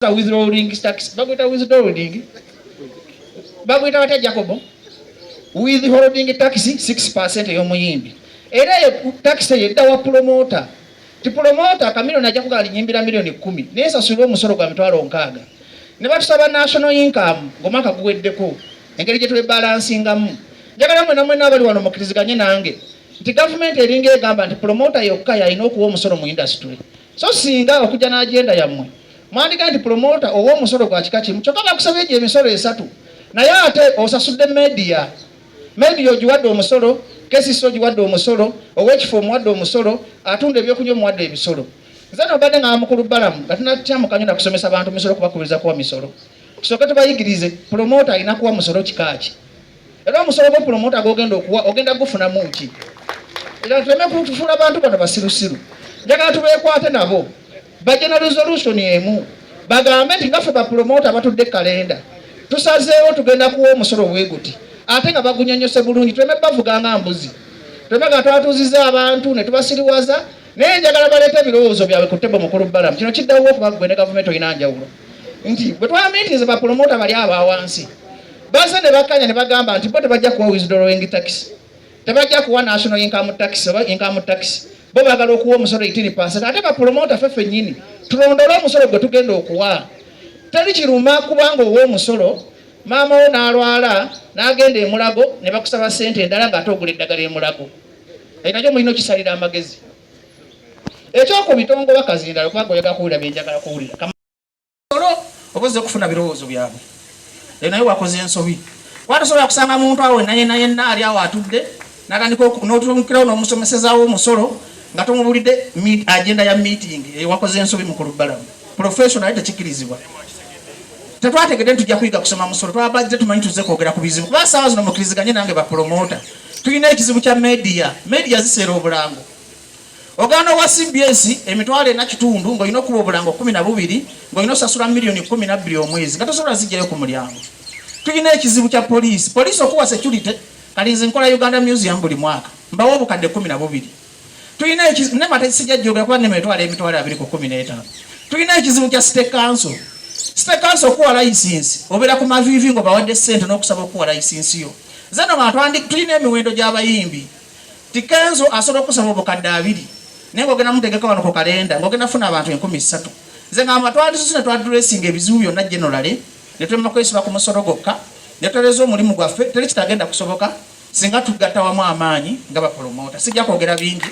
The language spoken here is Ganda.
withdrawing tax bagwita withdrawing bagwita batya jacobo withholding tax 6 ey'omuyimbi era eyo tax eyo edda wa pulomota ti pulomota kamilioni ajja kugala linyimbira milioni kumi naye sasulira omusolo gwa mitwalo nkaaga ne batusaba national income ng'omwaka guweddeko engeri gye twebalansingamu njagala mwena mwena abali wano mukiriziganye nange nti gavumenti eringa egamba nti pulomota yokka yalina okuwa omusolo mu indasitule so singa okujja n'agenda yammwe mwandiga nti promota owa omusolo gwa kika kimu kyokka bakusaba egyo emisolo esatu naye ate osasudde media media ogiwadde omusolo kesisi ogiwadde omusolo owekifo omuwadde omusolo atunda ebyokunywa omuwadde ebisolo nze nobadde nga mukulu balamu nga tunatya mukanyo nakusomesa bantu misolo kubakubiriza kuwa misolo tusooke tubayigirize promota alina kuwa musolo kikaaki era omusolo gwa pulomota gogenda okuwa ogenda gufunamu ki era tuleme kutufuula abantu bano basirusiru njagala tubeekwate nabo bajja na resolution emu bagambe nti nga ffe bapulomota abatudde kalenda tusazeewo tugenda kuwa omusolo weguti ate nga bagunyonyose bulungi tuleme bavuga nga mbuzi tuleme nga twatuuziza abantu ne tubasiriwaza naye njagala baleeta ebirowoozo byabwe ku tebo mukulu balamu kino kiddawo okuba gwe ne gavumenti olina njawulo nti bwe twamitinze bapulomota bali abawansi Bazze ne bakkanya ne bagamba nti bo tebajja kuwa withdrawing tax, tebajja kuwa national income tax oba income tax, bo baagala okuwa omusolo itini pasent. Ate bapulomota ffe ffennyini tulondole omusolo gwe tugenda okuwa. Teri kiruma kubanga owa omusolo maama wo n'alwala n'agenda emulago ne bakusaba ssente endala ng'ate ogula eddagala emulago. Ekyo nakyo mulina okisalira amagezi. Ekyokubiri tongoba kazindalo kubanga oyagala kuwulira bye njagala kuwulira. olo oba ozze kufuna birowoozo byabwe e naye wakoze ensobi kuba tosobola kusanga muntu awo naye naye naali awo atudde natandika notumukirawo nomusomesezawo omusolo nga tomubulidde agenda ya meeting eyo wakoze ensobi mukulu balamu professional naye tekikirizibwa tetwategedde nti tujja kuyiga kusoma musolo twabajja tumanyi tuzze kwogera ku bizibu kuba saawa zino mukiriziganye nange bapromota tulina ekizibu kya media media ziseera obulango Ogaana owa cbs emitwalo ena kitundu ng'olina okuba obulango kumi na bubiri ng'olina osasula miliyoni kumi na bbiri omwezi nga tosobola zijjayo ku mulyango. Tulina ekizibu kya poliisi. Poliisi okuwa security kati nze nkola Uganda Museum buli mwaka mbawo obukadde kumi na bubiri. Tulina ekizibu ne mate sijajjogera kuba ne mitwalo emitwalo abiri ku kumi n'etaano. Tulina ekizibu kya state council. State council okuwa layisinsi obeera ku maviivi ng'obawadde ssente n'okusaba okuwa layisinsi yo. Zeno nga tulina emiwendo gy'abayimbi Ti Kenzo asobola okusaba obukadde abiri naye ng'ogenda mutegeka wano ku kalenda ng'ogenda funa abantu enkumi ssatu. Nze ngamba twandisusu ne twadresinga ebizibu byonna generally ne tulema kwesiba ku musolo gwokka ne tutereza omulimu gwaffe teri kitagenda kusoboka singa tugatta wamu amaanyi nga bapolomoota. Sijja kwogera bingi.